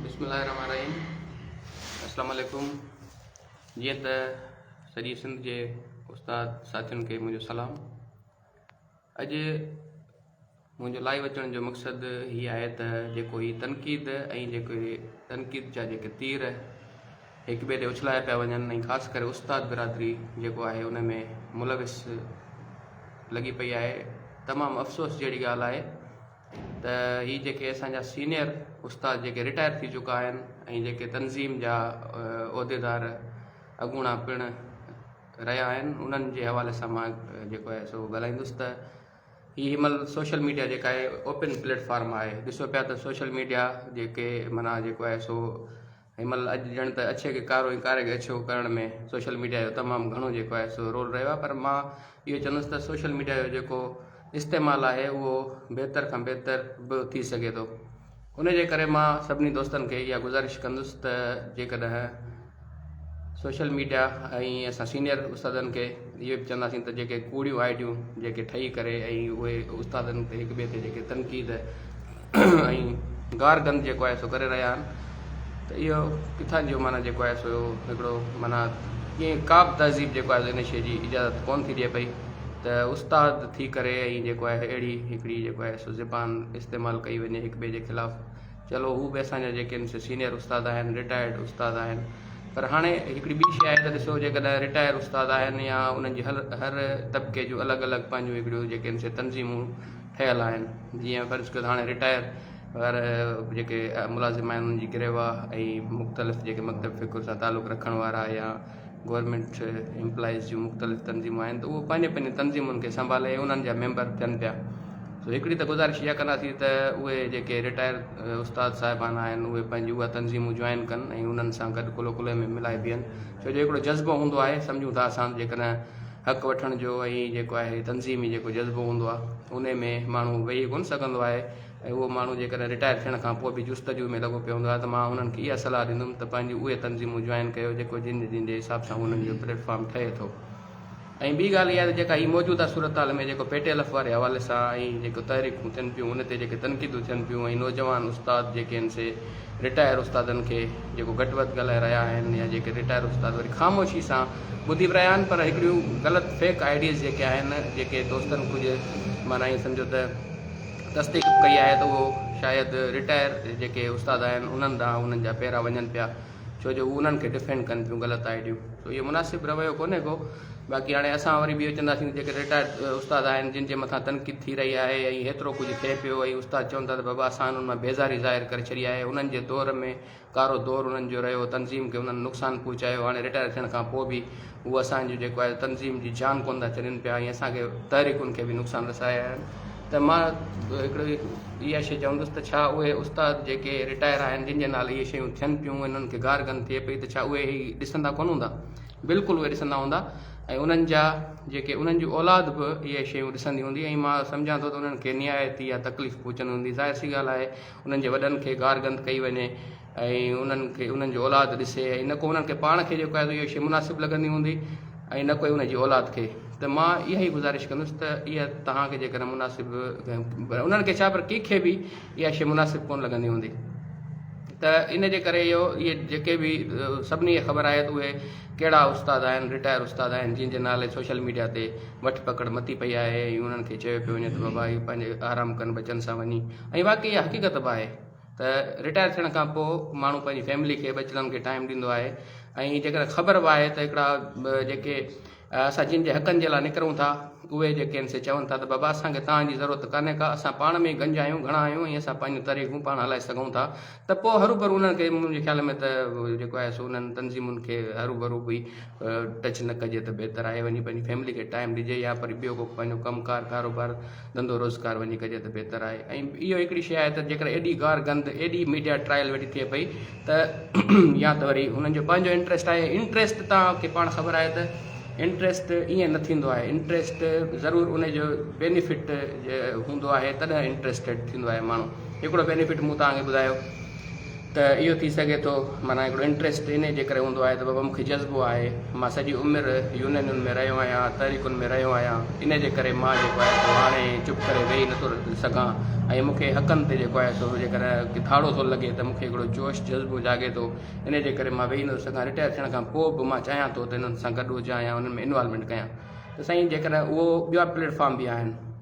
بسم الله الرحمن الرحيم السلام عليڪم جيئن ته سڄي سنڌ جي استاد ساٿين کي منهنجو سلام اڄ منهنجو لائيو اچڻ جو مقصد هي آهي ته جيڪو هي تنقيد ۽ جيڪو تنقيد جا جيڪي تير هڪ ٻئي تي اڇلايا پيا وڃن ۽ خاص ڪري استاد برادري جيڪو آهي ان ۾ ملوث لڳي پئي آهي تمام افسوس جهڙي ڳالهه آهي ته هي جيڪي اسان جا سينئر استاد جيڪي رٽائر ٿي چڪا آهن ۽ جيڪي تنظيم جا عهديدار اڳوڻا پڻ رهيا آهن انهن جي حوالي سان مان جيڪو آهي سو ڳالهائيندس ته هي هي مل سوشل ميڊيا جيڪا آهي اوپن پليٽفارم آهي ڏسو پيا ته سوشل ميڊيا جيڪي منا جيڪو آهي سو هن مهل اڄ ڄڻ ته اڇي کي ڪارو ۽ ڪاري کي اڇو ڪرڻ ۾ سوشل ميڊيا جو تمام گهڻو جيڪو آهي سو رول رهيو آهي پر مان اهو چوندس ته سوشل ميڊيا جو جيڪو استعمال آهي اهو بهتر کان بهتر به ٿي سگهي ٿو ان جي ڪري مان سڀني دوستن کي اها گذارش ڪندس ته جيڪڏهن سوشل ميڊيا ۽ اسان سينيئر استادن کي اهو به چونداسين ته جيڪي ڪوڙيون آئيڊيون جيڪي ٺهي ڪري ۽ اهي استادن تي هڪ ٻئي تي جيڪي تنقيد ۽ گار گند جيڪو آهي سو ڪري رهيا آهن ته اهو ڪٿان جو معنيٰ جيڪو آهي سو هڪڙو معنيٰ ڪيئن ڪا به تهذيب جيڪو آهي ان شيء جي اجازت ڪون ٿي ڏي پئي ته استاد ٿي ڪري ۽ جيڪو آهي اهڙي هڪڙي جيڪو آهي سو زبان استعمال ڪئي وڃي هڪ ٻئي جي خلاف چلو هو به اسان جا جيڪي آهن سي سينئر استاد آهن رٽائرڊ استاد آهن پر هاڻي هڪڙي ٻي شيء آهي ته ڏسو جيڪڏهن رٽائر استاد آهن يا انهن جي هر هر طبقي جون الڳ الڳ پنهنجون هڪڙيون جيڪي آهن سي تنظيمون ٺهيل آهن جيئن فرض ڪيو ته هاڻي رٽائر وغيره جيڪي ملازم آهن انهن جي گروه ۽ مختلف جيڪي مڪتب فڪر سان تعلق رکڻ وارا يا گورمينٽ امپلائيز جون مختلف تنظيمون آهن ته اهو پنهنجي پنهنجي تنظيمن کي سنڀالي ۽ انهن جا ميمبر ٿين پيا سو هڪڙي ته گذارش اها ڪنداسين ته اهي جيڪي رٽائر استاد صاحبان آهن اهي پنهنجي اها تنظيمون جوائن ڪن ۽ انهن سان گڏ ڪلو ڪلهي ۾ ملائي بيهن ڇو جو هڪڙو جذبو هوندو آهي سمجهون ٿا اسان جيڪڏهن حق وٺڻ جو ۽ جيڪو آهي تنظيمي جيڪو جذبو هوندو آهي انهي ۾ ماڻهو ويهي ڪونه سگهندو آهي ۽ اهو ماڻهو جيڪڏهن رٽائر ٿيڻ کان پوء به جستجو ۾ لڳو پيو هوندو آهي ته مان انهن کي اها صلاح ڏيندم ته پنهنجون اهي تنظيمون جوائن ڪيو جيڪو جن جن جي حساب سان انهن جو پليٽ فارم ٺهي ٿو. ۽ ٻي ڳالهه اها ته جيڪا هي موجوده صورتحال ۾ جيڪو پي ٽي ايل ايف واري حوالي سان ۽ جيڪو تحريڪون ٿين پيون ان تي جيڪي تنقيدون ٿين پيون ۽ نوجوان استاد جيڪي آهن سي رٽائر استادن کي جيڪو گهٽ وڌ ڳالهائي رهيا آهن يا جيڪي رٽائر استاد وري خاموشي سان ٻڌي به رهيا آهن پر هڪڙيون غلط فيڪ آئيڊيز جيڪي آهن جيڪي دوستن ڪجهه معنيٰ ائين سمجهو ته تصديق ڪئي آهي ته اهو شايد رٽائر جيڪي استاد آهن انهن ڏانهن انهن جا پيرا وڃن پيا ڇو جو هو انهن کي ڊفينڊ ڪن ٿيون غلط آئيڊيون سو اهو مناسب رويو ڪونهي ڪو باقي هاڻي اسان وري به اهو چونداسين ته جيڪي رٽائرڊ استاد آهن جن جي مٿان تنقيد ٿي رهي آهي ۽ هيترو ڪجهه ٿئي پيو ۽ استاد چون ٿا ته بابا اسان انهن مان بيزاري ظاهر ڪري ڇڏي آهي انهن جي دور ۾ ڪارو دور انهن جو رهيو تنظيم کي انهن نقصان پهچايو هاڻي رٽائر ٿيڻ کان پوء به هو اسان جي جيڪو آهي تنظيم جي جان ڪونه ٿا ڇڏين پيا ۽ اسان کي تحريڪن کي به نقصان رسايا آهن ته مان هڪڙو اها شيء چوندس ته ڇا اهي استاد جيڪي رٽائر آهن جن جي نالي اهي شيون ٿين پيون انهن کي گار گند ٿئي پئي ته ڇا اهي هي ڏسندا ڪونه هوندا بلڪل اهي ڏسندا هوندا ۽ انهن جا جيڪي انهن جي اولاد به اهي شيون ڏسندي هوندي ۽ مان سمجهان ٿو ته انهن کي نهايت اها تڪليف پهچندي هوندي ظاهر سي ڳالهه آهي انهن جي وڏن کي گار گند ڪئي وڃي ۽ انهن کي انهن جو اولاد ڏسي ۽ نه ڪو انهن کي پاڻ کي جيڪو آهي اهو شيء مناسب لڳندي هوندي ۽ نه ڪوئي ان جي اولاد کي ته مان اها ئي گذارش ڪندس ته اها توهان کي جيڪڏهن مناسب پر انهن کي ڇا پر ڪنهن کي به اها شيء مناسب ڪونه لڳندي هوندي ته ان جي ڪري اهو اهي جيڪي به سڀني کي خبر آهي ته اهي ڪهڙا استاد آهن رٽائر استاد آهن جن جي نالي سوشل ميڊيا تي وٺ پڪڙ متي پئي آهي ۽ انهن کي چيو پيو وڃي ته بابا اهي پنهنجي آرام ڪن ٻچن سان وڃي ۽ واقعي اها حقيقت به آهي ته رٽائر ٿيڻ کان پوء ماڻهو پنهنجي فيملي کي ٻچڙن کي ٽائيم ڏيندو آهي ۽ جيڪڏهن خبر به آهي ته هڪڙا جيڪي اسان جن جي حقن جي لاء نڪرون ٿا اهي جيڪي آهن سي چون ٿا ته بابا اسان کي توهان جي ضرورت ڪانهي ڪا اسان پاڻ ۾ ئي گنج آهيون گهڻا آهيون ۽ اسان پنهنجون تريخون پاڻ هلائي سگهون ٿا ته پوء هروڀرو انهن کي منهنجي خيال ۾ ته جيڪو آهي سو انهن تنظيمن کي هروڀرو به ٽچ نه ڪجي ته بهتر آهي وڃي پنهنجي فيملي کي ٽائيم ڏجي يا وري ٻيو ڪو پنهنجو ڪم ڪار ڪاروبار ڌنڌو روزگار وڃي ڪجي ته بهتر آهي ۽ اهو هڪڙي شيء آهي ته جيڪڏهن ايڏي گار گند ايڏي ميڊيا ٽرائل ويٺي ٿئي پئي ته يا ته وري هنن جو پنهنجو انٽريسٽ آهي انٽريسٽ توهان کي پاڻ خبر آهي ته انٽريسٽ ائين نه ٿيندو آهي انٽريسٽ ضرور ان جو بينيفٽ هوندو آهي تڏهن انٽريسٽيڊ ٿيندو آهي ماڻهو هڪڙو بينيفٽ مون توهان کي ٻڌايو ته اهو ٿي سگهي ٿو معنيٰ هڪڙو انٽريسٽ انهي جي ڪري هوندو آهي ته بابا مون کي جذبو آهي مان سڄي عمر يونينن ۾ رهيو آهيان تحريڪن ۾ رهيو آهيان انهي جي ڪري مان جيڪو آهي سو هاڻي چپ ڪري ويهي نٿو سگهان ۽ مون کي حقن تي جيڪو آهي سو جيڪڏهن ڪي ڌاڙو ٿو لڳي ته مون کي هڪڙو جوش جذبو جاڳي ٿو انهي جي ڪري مان ويهي نٿو سگهان رٽائر ٿيڻ کان پوء به مان چاهيان ٿو ته انهن سان گڏ هجان يا انهن ۾ انوالومينٽ ڪيان ته سائين جيڪڏهن اهو ٻيا پليٽ فارم به آهن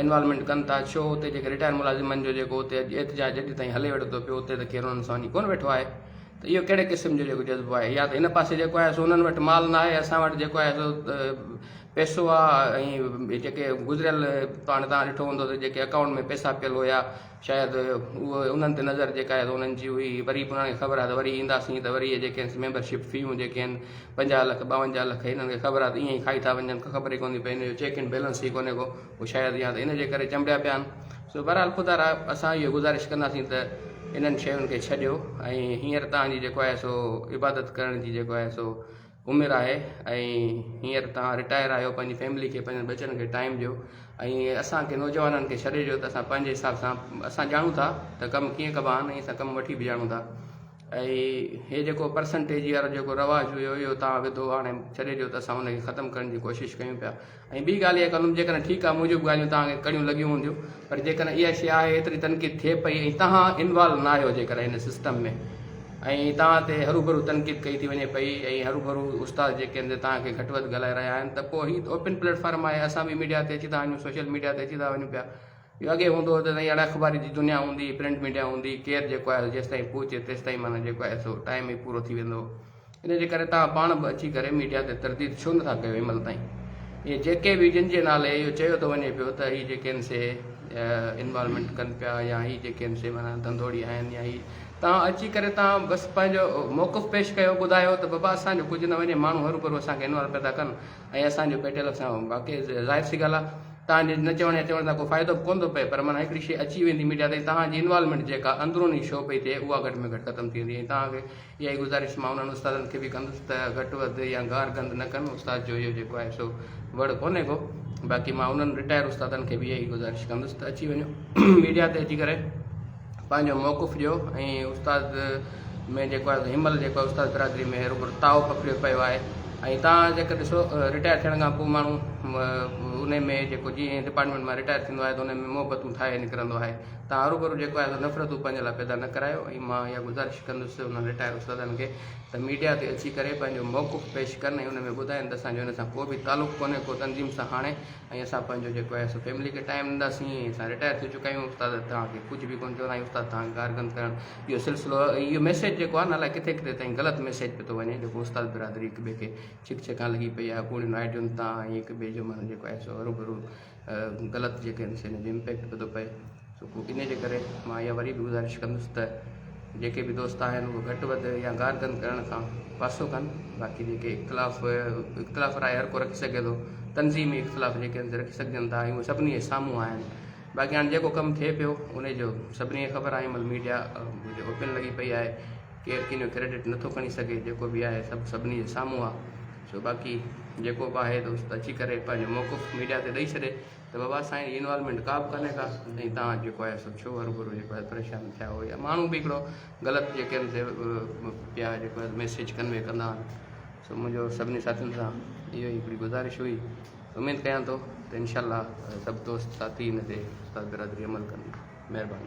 انوالومينٽ ڪن ٿا ڇو اتي جيڪي رٽائر ملازمن جو جيڪو اتي احتجاج اڄ تائين هلي وٺو پيو اتي ته کير انهن سان وڃي ڪونه ويٺو آهي ته اهو ڪهڙي قسم جو جيڪو جذبو آهي يا ته هن پاسي جيڪو آهي سو انهن وٽ مال نه آهي اسان وٽ جيڪو آهي سو پيسو آهي ۽ جيڪي گذريل پاڻ تان ڏٺو هوندو ته جيڪي اڪائونٽ ۾ پيسا پيل هيا شايد اهو انهن تي نظر جيڪا آهي سو انهن جي هئي، وري به انهن کي خبر آهي ته وري اينداسين ته وري اهي جيڪي آهن سي ميمبر شپ فيون جيڪي آهن پنجاهه لک ٻاونجاهه لک هنن کي خبر آهي ته ائين ئي کائي ٿا وڃن ڪا خبر ئي ڪونهي پئي هن جو چيڪ ان بيلنس ئي ڪونهي ڪو پوء شايد يا ته ان جي ڪري چنبڙيا پيا آهن سو بهرحال خدا را اسان اهو گذارش ڪنداسين ته انهن شين کي ڇڏيو ۽ هينئر توهان جي جيڪو آهي سو عبادت ڪرڻ جي جيڪو آهي سو عمر آهي ۽ هينئر توهان رٽائر آهيو پنهنجي فيملي کي پنهنجن ٻچن کي ٽائيم ڏيو ۽ اسان کي نوجوانن کي ڇڏي ڏيو ته اسان پنهنجي حساب سان اسان ڄاڻون ٿا ته ڪم ڪيئن ڪبا آهن ۽ اسان ڪم وٺي به ڄاڻون ٿا ۽ هي جيڪو پرسنٽيج وارو جيڪو رواج هيو اهو توهان وڌو آڻي ڇڏي ڏيو ته اسان ان کي ختم ڪرڻ جي ڪوشش ڪيون پيا ۽ ٻي ڳالهه اها ڪندم جيڪڏهن ٺيڪ آهي موجب ڳالهيون توهان کي ڪڙيون لڳيون هونديون پر جيڪڏهن اها شيء آهي ايتري تنقيد ٿئي پئي ۽ توهان انوالو ناهيو جيڪڏهن هن سسٽم ۾ ۽ توهان تي هروڀرو تنقيد ڪئي ٿي وڃي پئي ۽ هروڀرو استاد جيڪي آهن سي توهان کي گهٽ وڌ ڳالهائي رهيا آهن ته پوء هي اوپن پليٽ فارم آهي اسان به ميڊيا تي اچي ٿا وڃون سوشل ميڊيا تي اچي ٿا وڃون پيا جو اڳي هوندو هو ته سائين اڙي اخباري جي دنيا هوندي هئي پرنٽ ميڊيا هوندي هئي ڪير جيڪو آهي سو جيستائين پهچي تيستائين معنيٰ جيڪو آهي سو ٽائيم ئي پورو ٿي ويندو هو ان جي ڪري توهان پاڻ به اچي ڪري ميڊيا تي ترديد ڇو نه ٿا ڪيو هن مهل تائين اهي جيڪي به جن جي نالي اهو چيو ٿو وڃي پيو ته هي جيڪي آهن سي انوالومينٽ ڪن پيا يا هي جيڪي آهن سي معنيٰ ڌنڌوڙي آهن يا هي توهان اچي ڪري توهان بس پنهنجو موقف پيش ڪيو ٻڌايو ته بابا اسان جو ڪجهه نه وڃي ماڻهو هرو ڀرو اسان کي انوالو پيا ٿا ڪن ۽ اسان جو پيٽيل اسان باقي ظاهر سي ڳالهه آهي توهان جي نه چوڻ يا چوڻ سان ڪو فائدو به ڪونه ٿو پئي پر معنيٰ هڪڙي شي اچي ويندي ميڊيا تائين توهان جي انوالومينٽ جيڪا اندروني شو پئي ٿئي اها گهٽ ۾ گهٽ ختم ٿي ويندي ۽ توهان کي اها ئي گذارش مان انهن استادن کي به ڪندس ته گهٽ وڌ يا گار گند نه ڪن، استاد جو اهو جيڪو آهي سو وڙ ڪونهي ڪو، باقي مان انهن رٽائر استادن کي به اها ئي گذارش ڪندس ته اچي وڃو ميڊيا تي اچي ڪري پنهنجو موقف ڏيو ۽ استاد ۾ جيڪو آهي هن مهل جيڪو استاد برادري ۾ روڳو تاء پکڙيو پيو آهي ۽ تان جيڪر ڏسو رٽائر ٿيڻ کان پوء ماڻهو ان ۾ جيڪو جيئن ڊپارٽمينٽ مان رٽائر ٿيندو آهي ته ان ۾ محبتون ٺاهي نڪرندو آهي تان هروڀرو جيڪو آهي سو نفرتون پنهنجي لاء پيدا نه ڪرايو ۽ مان اها گذارش ڪندس ته انهن رٽائر استادن کي ته ميڊيا تي اچي ڪري پنهنجو موقف پيش ڪن ۽ ان ۾ ٻڌائن ته اسان جو ان سان ڪو به تعلق ڪونهي ڪو تنظيم سان هاڻي ۽ اسان پنهنجو جيڪو آهي سو فيملي کي ٽائيم ڏينداسين ۽ اسان رٽائر ٿي چڪا آهيون استاد توهان کي ڪجهه به ڪونه چوندا آهيون استاد توهان کي گار گند ڪرڻ اهو سلسلو اهو ميسيج جيڪو آهي نه الائي ڪٿي ڪٿي تائين غلط ميسيج پيو ٿو وڃي جيڪو استاد برادري هڪ ٻئي کي ڇڪ ڇڪان لڳي پئي آهي پوڙهين آئيڊين تان ۽ هڪ ٻئي جو معنيٰ جيڪو آهي سو هروڀرو غلط جيڪي آهن سي ان جو امپيڪٽ به ٿو پئي سو پوء ان جي ڪري مان اها وري به گذارش ڪندس ته جيڪي به دوست آهن اهو گهٽ وڌ يا گار گند ڪرڻ کان پاسو ڪن باقي جيڪي اختلاف اختلاف راء هر ڪو رکي سگهي ٿو تنظيمي اختلاف جيڪي آهن رکي سگهجن ٿا اهو سڀني جي سامهون آهن باقي هاڻي جيڪو ڪم ٿئي پيو ان جو سڀني کي خبر آهي مل ميڊيا جو اوپن لڳي پئي آهي ڪير ڪنهن جو ڪريڊٽ نٿو کڻي سگهي جيڪو به آهي سڀ سڀني جي سامهون آ سو باقي جيڪو به آهي دوست اچي ڪري پنهنجو موقف ميڊيا تي ڏئي ڇڏي ته بابا سائين جي انوالومينٽ ڪا به ڪانهي ڪا ۽ تان جيڪو آهي سو ڇو هربرو جيڪو آهي پريشان ٿيا هو يا ماڻهو به هڪڙو غلط جيڪي ان تي پيا جيڪو آهي ميسيج ڪنوي ڪندا آهن سو منهنجو سڀني ساٿين سان اهو ئي هڪڙي گذارش هئي اميد ڪيان ٿو ته انشاء الله سڀ دوست ساٿي ان تي استاد برادري عمل ڪندي مهرباني.